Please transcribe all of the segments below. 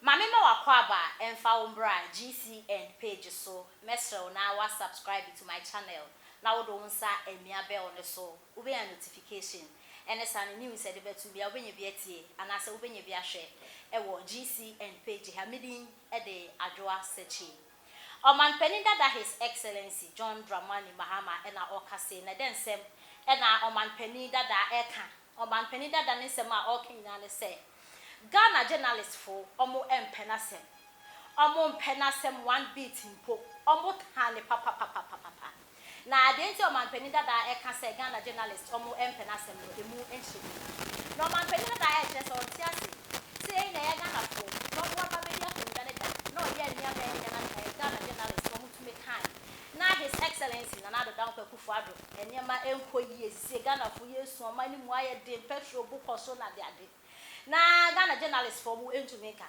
Ma me ma w'akwaaba ɛmfa wo mbra GCN page so mɛsrɛ wo na wa subscribe to my channel na wode wo nsa amia bell no so wobɛnya notification ɛne saa no news ɛde bɛto bia wobɛnya bi atie anaasɛ wobɛnya bi ahwɛ ɛwɔ GCN page ha medin de Adwoa Sekyie. Ɔmanpanin dada His Excellency John Dramani Mahama na ɔreka sei, na dɛn nsɛm na ɔmanpanin dada reka? Ɔmanpanin dada ne nsɛm a ɔreka nyinaa ne sɛ, Ghana journalistfoɔ wɔmpɛ n'asɛm, wɔmpɛ n'asɛm one bit mpo, wɔtaa no papapapapapa. Na deɛ nti a ɔmanpanin dada ɛka sɛ Ghana journalist ɔmo ɛmpɛ n'asɛm no ɛmu nkyerɛ biara. Na ɔmanpanin dada ɛkyerɛ sɛ ɔnte ase. Sei na ɛyɛ Ghanafoɔ na ɔmo aba abɛdi akonnwa no da na ɔyɛ nneɛma a ɛnyɛ na ɛɛ Ghana journalist ɔmo tumi kan na His Excellency Nana Addo Dankwa Akufo Addo. Nneɛma ɛnkɔ yie sesie Ghanafoɔ yɛresu ɔman no mu ayɛ den petrol bo kɔ so na adeade na Ghana journalistfoɔ ɔmo ɛntumi nka.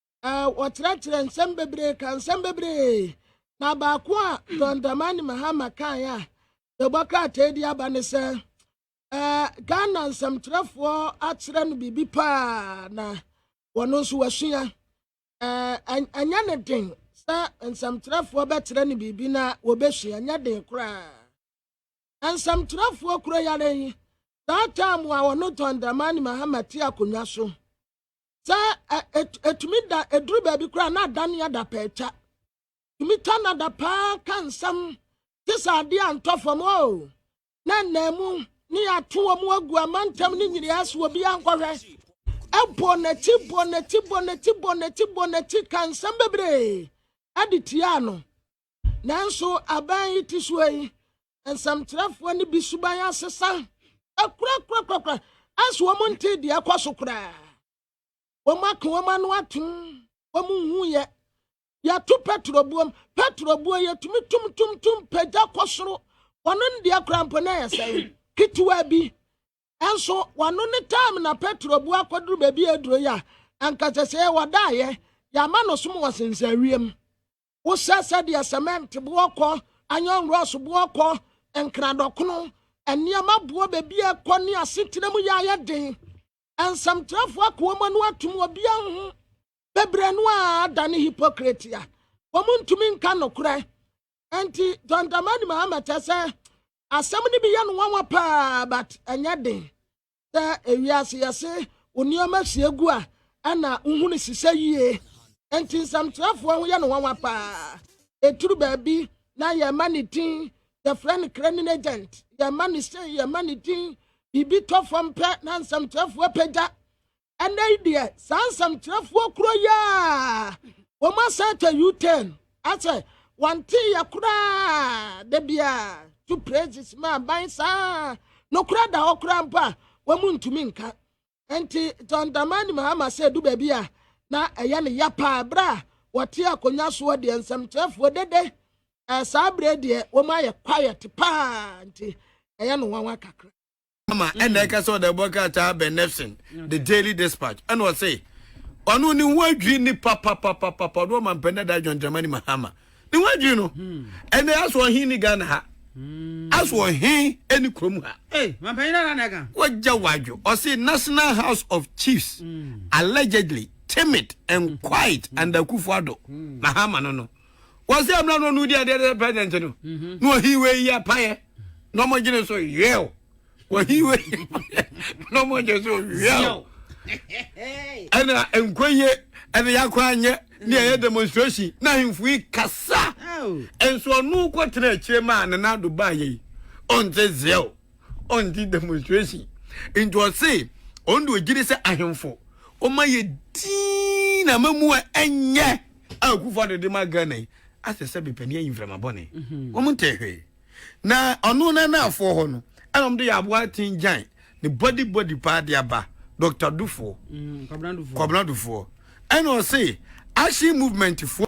wɔkyerɛkyerɛ nsɛm bebree ka nsɛm bebree na baako a john dramani mahama kaeɛ a yɛbɔ krataa di aba ne sɛ ghana nsɛmtwerɛfoɔ akyerɛ no biribi paa na wɔn nso wasua ɛnyɛ ne den sɛ nsɛmtwerɛfoɔ bɛkyerɛ no biribi na wɔbɛsua ɛnyɛ den koraa nsɛmtwerɛfoɔ kuro yare yi saa taamu a wɔno john dramani mahama te akonnwa so sɛ ɛtumi da ɛduru baabi koraa na adane adapɛɛkya tumi twa no ada paa ka nsɛm te sɛ adeɛ a ntɔ fam o na nnaamu ne yɛato wɔn agu amantam ne nyinaa so obi ankɔhwɛ ɛbɔ n'akyi bɔ n'akyi bɔ n'akyi bɔ n'akyi bɔ n'akyi ka nsɛm bebree ɛde tiaa no Nanso, aban yi ti so yi, nsɛmtwerɛfoɔ no bi suban asesa akurakura anso wɔn nte deɛ ɛkɔ so koraa. Wɔn aka wɔn ano atom, wɔn nhu yɛ. Yɛto Petro buom, Petro buo yɛtumi tum tum tum pagya kɔ soro. Wɔn ndeɛ koraa mpo na ɛyɛ sɛn ketewa bi. Ɛnso wɔn ne time na Petro buo akɔduru baabi aduro yi a, anka sɛ sɛ wɔdaeɛ, yɛama no som wɔ sensɛ wiem. Wosɛ sɛdeɛ sɛmɛnt boɔ kɔ, iron rods boɔ kɔ, nkradɔkono, nneɛma boɔ baabiara kɔ ne asetena mu yɛ ayɛ den. Nsɛmtwerɛfoɔ akoa mu ano atom, obiara nhu. Bebree no ara adane hypocrite a wɔntumi nka nokorɛ. Enti John Dramani Mahama kyerɛ sɛ asɛm no bi yɛ no nwanwa paa but ɛnyɛ den. sɛ ewiase yɛse wo nneɛma si egu a ɛna wohu no sisɛ yie nti nsɛmtwerɛfoɔ ho yɛ no nwanwa paa ɛturu baabi na yɛma ne din yɛfrɛ no craning agent yɛma ne sei yɛma ne din biribi tɔ fam pɛ na nsɛmtwerɛfoɔ pagya ɛnɛ yi deɛ saa nsɛmtwerɛfoɔ kuro yi a wɔn asɛ tɛ u-turn asɛ wɔnte yɛ koraa da biara to praises ma aban saa nokora da hɔ koraa mpo a wɔn ntumi nka nti john dramani mahama sɛ du baabi a na ɛyɛ ne ya paa berɛ a wɔte akonnwa soɔ deɛ nsɛmkyerɛfoɔ dede ɛɛ saa berɛ deɛ wɔn ayɛ quiet paa nti ɛyɛ no nwanwa kakra ama ɛna mm. ɛka sɛ ɔde ɛbɔ krataa bɛn nefson the mm. daily dispatch ɛna ɔse ɔno ne ho adwiri ne papapapapa ɔde ɔma mpɛnɛ da adwɔntrama ne mahama ne ho adwiri no mm. ɛnɛ aso ɔhen ne ghana ha aso ɔhen ne kurom ha wagya wadwo ɔse national house of chiefs allegedly timid and quiet under akufo ado mahama no no wɔsɛ mmra no ɔno di adeɛ sɛ president no mhm. na ɔhi wei yɛ payɛ na ɔmɔgyene so yɛw wɔhi wei na ɔmɔgyene so yɛw ɛna nkoyie ɛna yɛakɔ anyɛ ne ɛyɛ mm. demonstration na ahemfo yi kasa nso ɔno kɔtena akyire maa ne nado baa yɛi ɔnte zeɛw ɔnte demonstration nti ɔse ɔno de ɔgyiri sɛ ahemfo ɔma yɛ dii na ma mu a ɛnyɛ a Kufuor de de ma Ghana yi asɛ sɛ bepɛ ne ayi mframa bɔne. Mhm. Wɔn ntɛ hwee. Na ɔno na naafoɔ hɔ no, ɛna wɔn de yɛ aboa aten gyan ne body body paa de aba Dr. Dufoɔ, mm, Kwabena Dufoɔ. Ɛna ɔse action movement foɔ.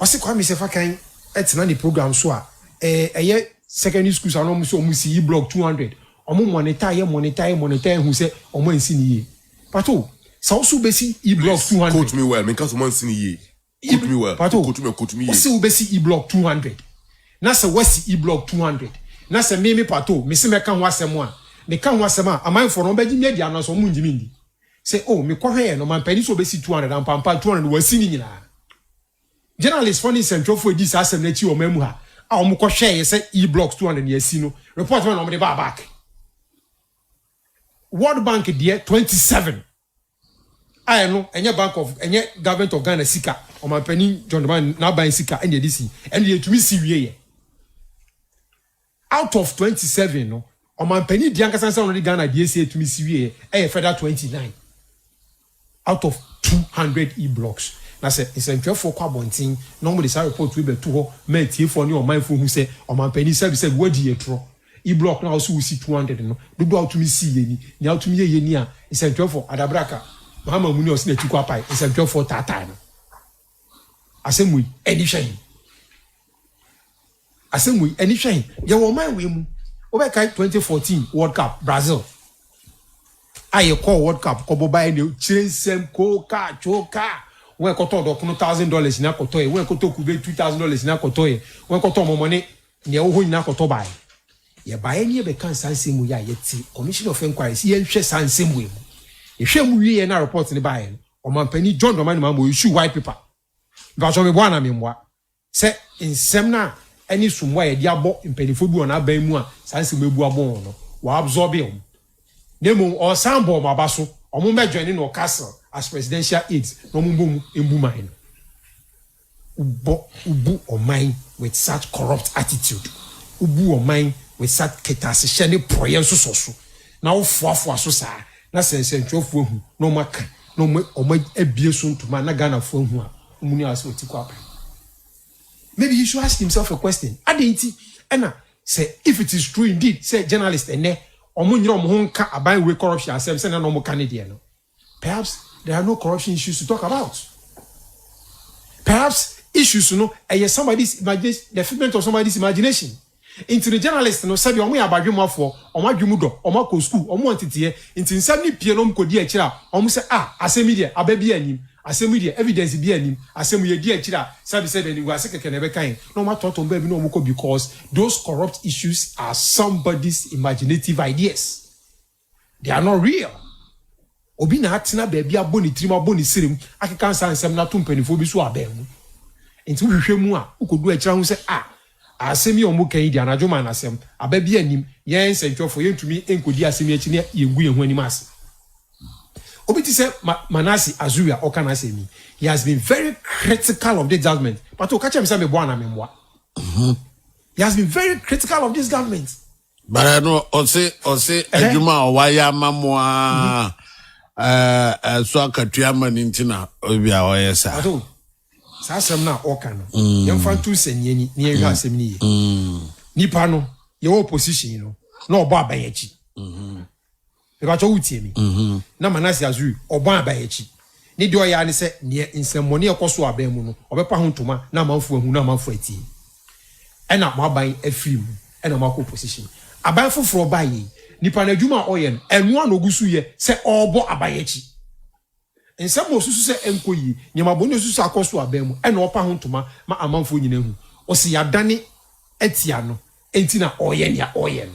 Ɔse Kwame Sefa kan tena ne program so a ɛyɛ secondary schools a na ɔmo sɛ ɔmo si yi block two hundred ɔmo monitor yɛ monitor yɛ monitor ehu sɛ ɔmo ansi no yie pato sɛ ɔse wobɛsi yi block two hundred Please quote me well menka sɛ ɔmo ansi no yie quote me well pato quote me quote me yie ɔse wobɛsi yi block two hundred na sɛ wasi yi block two hundred na sɛ me me pato mese mɛka ho asɛm a meka ho asɛm a amanfoɔ no ɔmo bɛgye me adi anaa sɛ ɔmo ngye me ndi. Sɛ oh me kɔhwɛɛ no mampanin sɛ ɔbɛsi two hundred ampa ampa two hundred wasi ne nyinaa Journalist fɔ ne nsɛntwerɛfoɔ ɛdii saa asɛm no akyi wɔ ɔman mu ha a wɔn kɔ hwɛɛyɛ sɛ E blocks two hundred yɛasi no report bɛn na wɔn de baa back World Bank deɛ twenty seven a ɛno ɛnyɛ bank of ɛnyɛ government of Ghana sika ɔmampanin John Dramani n'aban sika ɛna ɛde si ɛno deɛ ɛtumi si wie yɛ. Out of twenty seven no, ɔmanpanin di ankasa nsa na ɔde Ghana deɛ ɛsɛ tumi si wieɛ ɛyɛ fɛda twenty nine out of two hundred E blocks. Na sɛ nsɛntwerɛfoɔ kɔ abɔnten na wɔde saa report wei bɛto hɔ ma atiefoɔ ne ɔmanfoɔ hu sɛ ɔmanpanin sɛbisɛbi woadi atorɔ, E block no a wose wosi two hundred no dodoɔ a wotumi siiɛ ni, nea wotumi yɛeɛ ni a nsɛntwerɛfoɔ, Adabraka, Mahama Muni a ɔse n'akyi kɔ apae, nsɛntwerɛfoɔ taataa no. Asɛm wei ani hwɛ he? Asɛm wei ani hwɛ he? Yɛwɔ ɔman wei mu. Wobɛkae 2014 World Cup Brazil a yɛkɔɔ World Cup kɔbɔ baeɛ ne kyerɛ nsɛm koo kaa twoo kaa wɔn a ɛkɔtɔ ɔdɔkono thousand dollars nyinaa kɔtɔeɛ wɔn a ɛkɔtɔ kube two thousand dollars nyinaa kɔtɔeɛ wɔn a ɛkɔtɔ ɔmɔmɔne nea ɛwɔ hɔ nyinaa kɔtɔ baeɛ yɛbaeɛ ne yɛbɛka saa nsɛm wei a yɛte Commission of Inquiries yɛnhwɛ saa nsɛm wei mu yɛhwɛ mu wieɛ na report no baeɛ no Ɔmanpanin John Dramani Mahama ɔresu white paper, mpakyɛw meboa anaa memmoa? sɛ nsɛm no a ɛne sombo a yɛde abɔ mpanimfoɔ bi wɔ n'aban mu a saa nsɛm yi abu abɔ wɔn no, wɔabsorbee wɔn. Na mmom ɔresan bɔ wɔn aba so, wɔmmɛjoine no wɔ castle as presidential aides na wɔmmɔ mu mbu man no. Wobɔ wobu ɔman with such corrupt attitude, wobu ɔman with such kɛtɛasehyɛ ne porɔeɛ nsosɔso, na wofoafoa so saa, na sɛ nsɛntwerɛfoɔ ahu na wɔn aka na wɔn wɔn abue so ntoma na Ghanafoɔ ahu a, wɔn nyinaa sɛ wɔti kɔ aban. Maybe he should ask himself a question, adɛn nti na sɛ if it is true indeed sɛ journalist ɛnnɛ wɔn nyere wɔn ho nka aban wei corruption asɛm sɛnea na wɔka ne deɛ no, Perhaps there are no corruption issues to talk about. Perhaps issues no ɛyɛ somebody's imagination, the figment of somebody's imagination. Nti no journalist no sɛdeɛ wɔn yɛ abadwemafoɔ, wɔn adwene mu dɔ, wɔn akɔ school, wɔn wɔ nteteɛ, nti nsɛm no pie na wɔn kɔdi akyire a, wɔn sɛ ah asɛm yi deɛ aba biara nnim, asɛm yi deɛ evidence biara nnim, asɛm yi yɛdi akyire a sɛbe sɛbe animguase kɛkɛ na ɛbɛka yɛn, na wɔn atɔtɔ wɔn baabi na wɔn kɔ because those corrupt issues are somebody's imaginative ideas. They are not real. Obi na atena baabi abɔ ne tirim, abɔ ne serem, akeka nsa nsɛm na ato mpanimfoɔ bi so abɛn mu. Nti wohwehwɛ mu a, wokɔdu akyire ahu sɛ ah, asɛm yi a wɔka yi deɛ anadwo maa no asɛm. Aba biara nnim. Yɛn nsɛntwerɛfoɔ, yɛntumi nkɔdi asɛm yi akyi na yɛngu yɛn ho anim ase. Obi te sɛ Ma, Manasseh Azuri a ɔka n'asɛm yi, he has been very critical of this government. Pato, ka kyerɛ me sɛ meboa anaa memmoa. He has been very critical of this government. Bara no ɔse ɔse adwuma a wayɛ ama mo a ɛɛ ɛso akatua ama ne nti na obi a ɔyɛ saa. Ato saa asɛm no a ɔka no mm. yɛmfa nto nsɛnniani na yɛnhwɛ mm. asɛm no yie. Mm. Nipa no yɛwɔ opposition no na ɔbɔ aban akyi. Mm-hmm. Mebatɔ wo tie me na Manase Azuri ɔbɔn aban akyi ne deɛ ɔyɛ ara ne sɛ neɛ nsɛmmɔne a ɛkɔ so aban mu no ɔbɛpa ho ntoma na amanfoɔ ahu na amanfoɔ atie ɛna mo aban afiri mu ɛna mo akɔ opposition aban foforɔ baayɛ yi nipa no adwuma a ɔyɛ no ɛnoa na ɔgu so yɛ sɛ ɔrebɔ aban akyi. Nsɛm a osusu sɛ ɛnkɔ yie, nneɛma bɔne a osusu sɛ akɔ so abɛn mu na ɔpa ho ntoma ma amanfoɔ nyinaa hu. Ɔse yɛadane atia no, enti na ɔreyɛ nea ɔreyɛ no.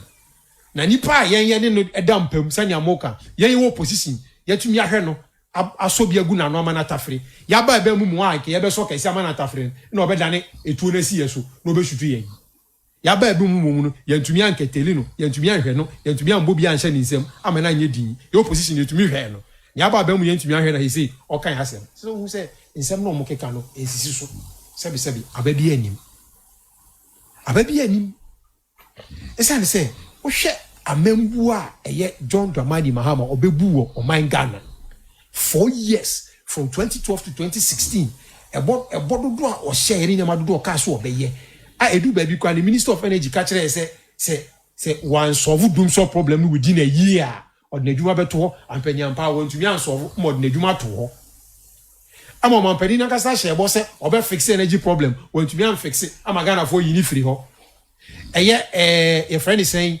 Na nipa a yɛn yɛne no da mpa mu, sɛnea moka, yɛn yɛwɔ opposition, yɛatumi ahwɛ no, asɔ bi agu n'ano ama no atafere. Yɛaba ɛbɛn mu mu a, anka yɛbɛsɔ kɛse ama no atafere no na ɔbɛdane etuo no asi yɛn so na ɔbɛsutu yɛn. Yɛaba ebinom mu mmom no, yɛantumi ankɛtɛli no, yɛantumi anhwɛ no, yɛantumi ammɔ bi anhyɛ ne nsam amma no anyɛ dinn. Yɛn opposition yetumi hwɛɛ no. Nea aba abam no yɛantumi anhwɛ no na seesei ɔka yɛn asɛm. Ɛsɛ sɛ wohu sɛ nsɛm no a wɔkeka no nsisi so. Sɛbesɛbe, aba biara nnim. Aba biara nnim. Esiane sɛ wohwɛ amammuo a ɛyɛ John Dramani Mahama a ɔbɛbu wɔ ɔman Ghana Four years, from twenty twelve to twenty sixteen, ɛbɔ ɛbɔ dodoɔ a ɔhyɛeɛ ne nneɛma dodoɔ a ɔkaa sɛ ɔbɛyɛ a ɛduru baabi koraa no, Minister of Energy ka kyerɛɛ sɛ sɛ sɛ wansɔlvo dumsor problem no within a year a, ɔde n'adwuma bɛto hɔ. Ampa ni ampa ara, wantumi ansɔlvo ma ɔde n'adwuma ato hɔ. Ɛma ɔmampanin no ankasa hyɛɛ bɔ sɛ ɔbɛfixe energy problem, wantumi amfixe ama Ghanafoɔ ayi no firi hɔ. Ɛyɛ ɛɛ yɛfrɛ no sɛn